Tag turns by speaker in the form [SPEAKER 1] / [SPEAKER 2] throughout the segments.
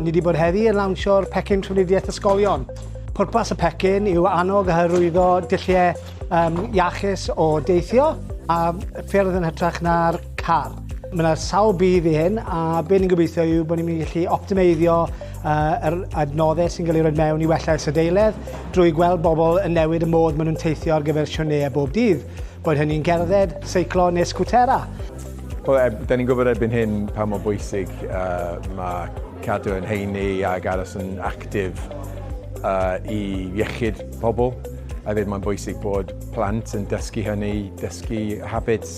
[SPEAKER 1] Ni wedi bod heddi yn lawnsio'r pecyn trwyddiaeth ysgolion. Pwrpas y pecyn yw annog a hyrwyddo dulliau um, iachus o deithio a ffyrdd yn hytrach na'r car. Mae yna sawl budd i hyn a be ni'n gobeithio yw bod ni'n mynd i gallu optimeiddio uh, yr adnoddau sy'n cael ei roed mewn i wella isadeiledd drwy gweld bobl yn newid y modd maen nhw'n teithio ar gyfer sioneu bob dydd, bod hynny'n gerdded, seiclo neu sgwtera. Wel, e,
[SPEAKER 2] da ni'n gwybod erbyn hyn pa mor bwysig uh, mae cadw yn heini ac aros yn actif uh, i iechyd pobl. A ddim mae'n bwysig bod plant yn dysgu hynny, dysgu habits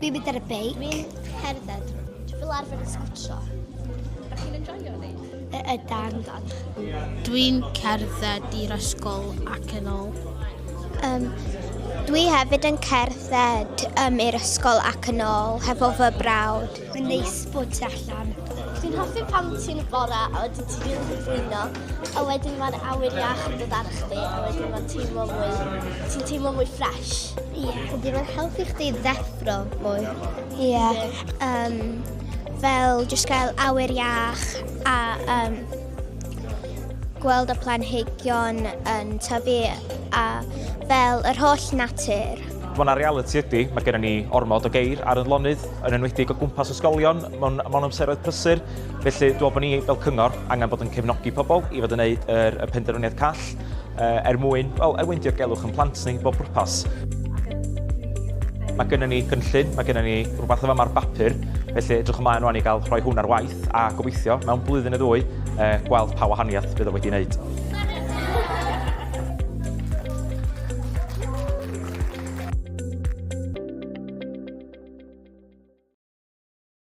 [SPEAKER 3] Dwi'n mynd ar y beic. Dwi'n cerdded. Dwi'n fel arfer yn sgwtio. Ydych chi'n enjoyio
[SPEAKER 4] ni? Y ydan.
[SPEAKER 3] Dwi'n
[SPEAKER 5] cerdded i'r ysgol ac yn ôl. Um,
[SPEAKER 3] Dwi hefyd yn cerdded um, i'r ysgol ac yn ôl, hefo fy brawd. Mae'n neis bod ti allan. Dwi'n hoffi pan ti'n bora a wedyn ti'n rili cyflwyno, a wedyn mae'r awyr iach yn dod ar chdi, a wedyn mae'n teimlo mwy, ti'n teimlo mwy ffres. Ie. Ydy mae'n helpu chdi ddeffro mwy? Ie. Um, fel jyst gael awyr iach a um, gweld y planhigion yn tyfu a fel yr holl natur. Mae yna reality
[SPEAKER 6] ydy, mae gennym ni ormod o geir ar y lonydd, yn enwedig o gwmpas ysgolion, mewn, mewn amseroedd prysur. Felly, dwi'n bod ni fel cyngor angen bod yn cefnogi pobl i fod yn gwneud yr, y penderfyniad call. uh, er mwyn, wel, er mwyn dirgelwch yn plant ni, bob pwrpas. Mae gennym ni gynllun, mae gennym ni rhywbeth o fama'r bapur, felly edrych ymlaen rwan i gael rhoi hwn ar waith a gobeithio mewn blwyddyn y ddwy eh, gweld pa wahaniaeth bydd o wedi wneud.